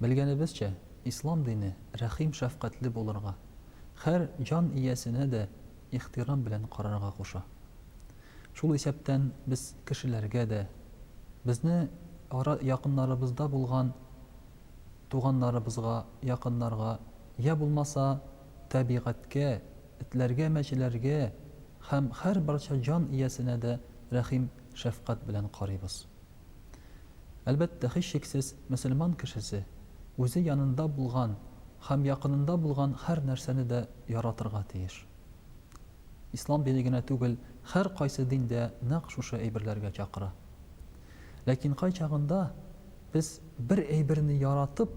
Белгәнебезчә, ислам дине рәхим-шәфкатьле булырга, хәр җан иясенә дә ихтирам белән карарга куша. Шул исәптән без кешеләргә дә, безне ара якыннарыбызда булган туганнарыбызга, якыннарга, йә булмаса, табигатькә, этләргә, мәчеләргә һәм хәр барча җан иясенә дә рәхим-шәфкать белән карыйбыз. Әлбәттә, һичшиксез, мөселман кешесе үзе янында булган һәм якынында булган һәр нәрсәне дә яратырга тиеш. Ислам дине генә түгел, һәркайсы дин дә нәкъ шушы әйберләргә чакыра. Ләкин кайчагында без бер әйберне яратып,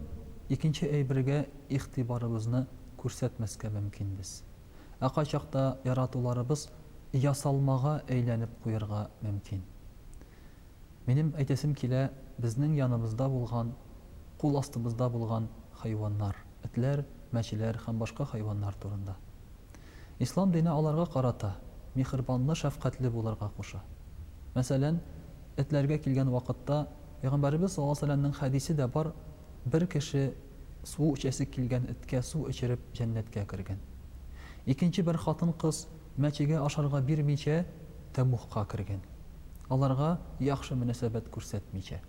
икенче әйбергә игътибарыбызны күрсәтмәскә мөмкинбез. Ә кайчакта яратуларыбыз ясалмага әйләнеп куярга мөмкин. Минем әйтәсем килә, безнең яныбызда булган, кул астыбызда булган хайваннар, этләр, мәчеләр һәм башка хайваннар турында. Ислам дине аларга карата миһербанлы, шәфкатьле булырга куша. Мәсәлән, этләргә килгән вакытта, пәйгамбәребез саллаллаһу галәйһи ва сәлләмнең хәдисе дә бар, Бер кеше су эчәсе килгән эткә су эчереп җәннәткә кергән. Икенче бер хатын-кыз мәчегә ашарга бирмичә, тәмугка кергән, аларга яхшы мөнәсәбәт күрсәтмичә.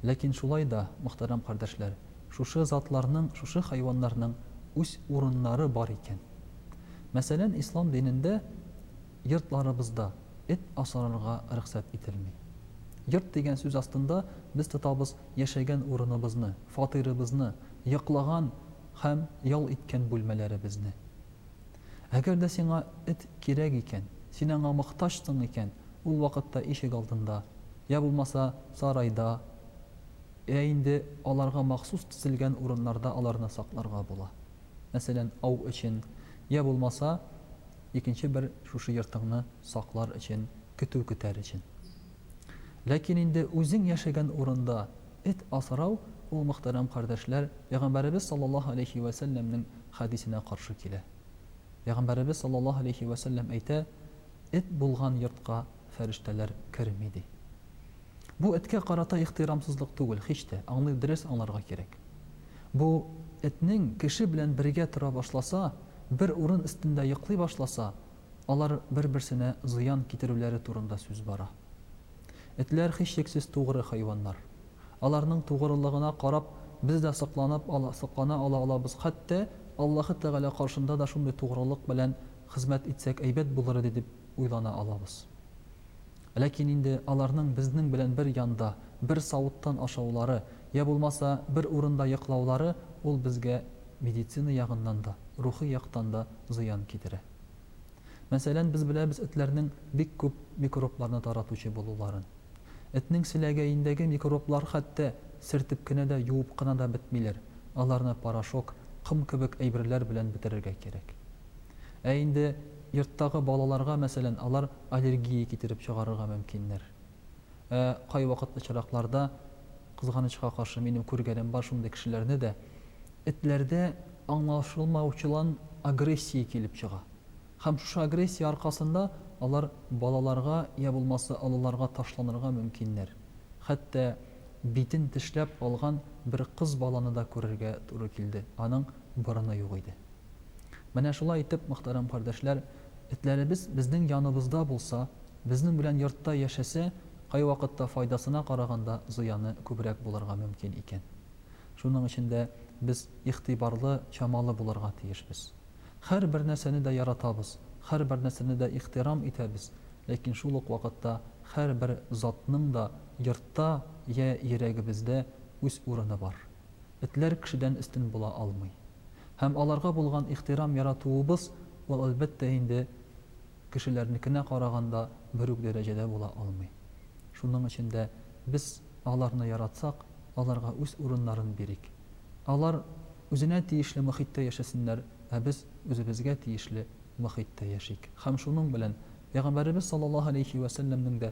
Ләкин шулай да, мөхтәрәм кардәшләр, шушы затларның, шушы хайваннарның үз урыннары бар икән. Мәсәлән, ислам динендә. Йортларыбызда эт асрарга рөхсәт ителми. Йорт дигән сүз астында без тотабыз яшәгән урыныбызны, фатирыбызны, йоклаган һәм ял иткән бүлмәләребезне. Әгәр дә сиңа эт кирәк икән, син аңа мохтаҗсың икән, ул вакытта ишек алдында, йә булмаса сарайда, йә инде аларга махсус төзелгән урыннарда аларны сакларга була. Мәсәлән, ау өчен, йә булмаса икенче бер шушы йортыңны саклар өчен, көтү көтәр өчен. Ләкин инде үзең яшәгән урында эт асрау, ул, мөхтәрәм кардәшләр, пәйгамбәребез саллаллаһу галәйһи вә сәлләмнең хәдисенә каршы килә. Пәйгамбәребез саллаллаһу галәйһи вә сәлләм әйтә, Эт булган йортка фәрештәләр керми, ди. Бу эткә карата ихтирамсызлык түгел, һич тә, аңны дөрес аңларга кирәк. Бу этнең кеше белән бергә тора башласа, бер урын өстендә йоклый башласа, алар бер-берсенә зыян китерүләре турында сүз бара. Этләр һичшиксез тугры хайваннар. Аларның тугрылыгына карап, без дә сокланып ала, соклана ала алабыз, хәтта Аллаһы Тәгалә каршында да шундый тугрылык белән хезмәт итсәк әйбәт булыр иде дип уйлана алабыз. Ләкин инде аларның безнең белән бер янда, бер савыттан ашаулары, йә булмаса, бер урында йоклаулары ул безгә медицина ягыннан да, рухи яктан да зыян китерә. Мәсәлән, без беләбез этләрнең бик күп микробларны таратучы булуларын. Этнең селәгәендәге микроблар хәтта сертеп кенә дә, юып кына да бетмиләр, аларны порошок, ком кебек әйберләр белән бетерергә кирәк. Ә инде йорттагы балаларга, мәсәлән, алар аллергия китереп чыгарырга мөмкиннәр. Ә кайвакыт очракларда, кызганычка каршы, минем күргәнем бар шундый кешеләрне дә, этләрдә аңлашылмаучылан агрессия килеп чыга. Һәм шушы агрессия аркасында алар балаларга йә булмаса олыларга ташланырга мөмкиннәр. Хәтта битен тешләп алган бер кыз баланы да күрергә туры килде, аның борыны юк иде. Менә шулай итеп, мөхтәрәм кардәшләр, этләребез безнең яныбызда булса, безнең белән йортта яшәсә, кайвакытта файдасына караганда зыяны күбрәк булырга мөмкин икән. Шуның өчен дә без игътибарлы, чамалы булырга тиешбез. Һәрбер нәрсәне дә яратабыз, һәрбер нәрсәне дә ихтирам итәбез, ләкин шул ук вакытта һәрбер затның да йортта йә йөрәгебездә үз урыны бар. Этләр кешедән өстен була алмый. Һәм аларга булган ихтирам яратуыбыз, ул, әлбәттә инде, кешеләрнекенә караганда бер үк дәрәҗәдә була алмый. Шуның өчен дә без аларны яратсак, аларга үз урыннарын бирик. Алар үзенә тиешле мохиттә яшәсеннәр, ә без үзебезгә тиешле мохиттә яшик. Һәм шуның белән Пәйгамбәребез саллаллаһу галәйһи вә сәлләмнең дә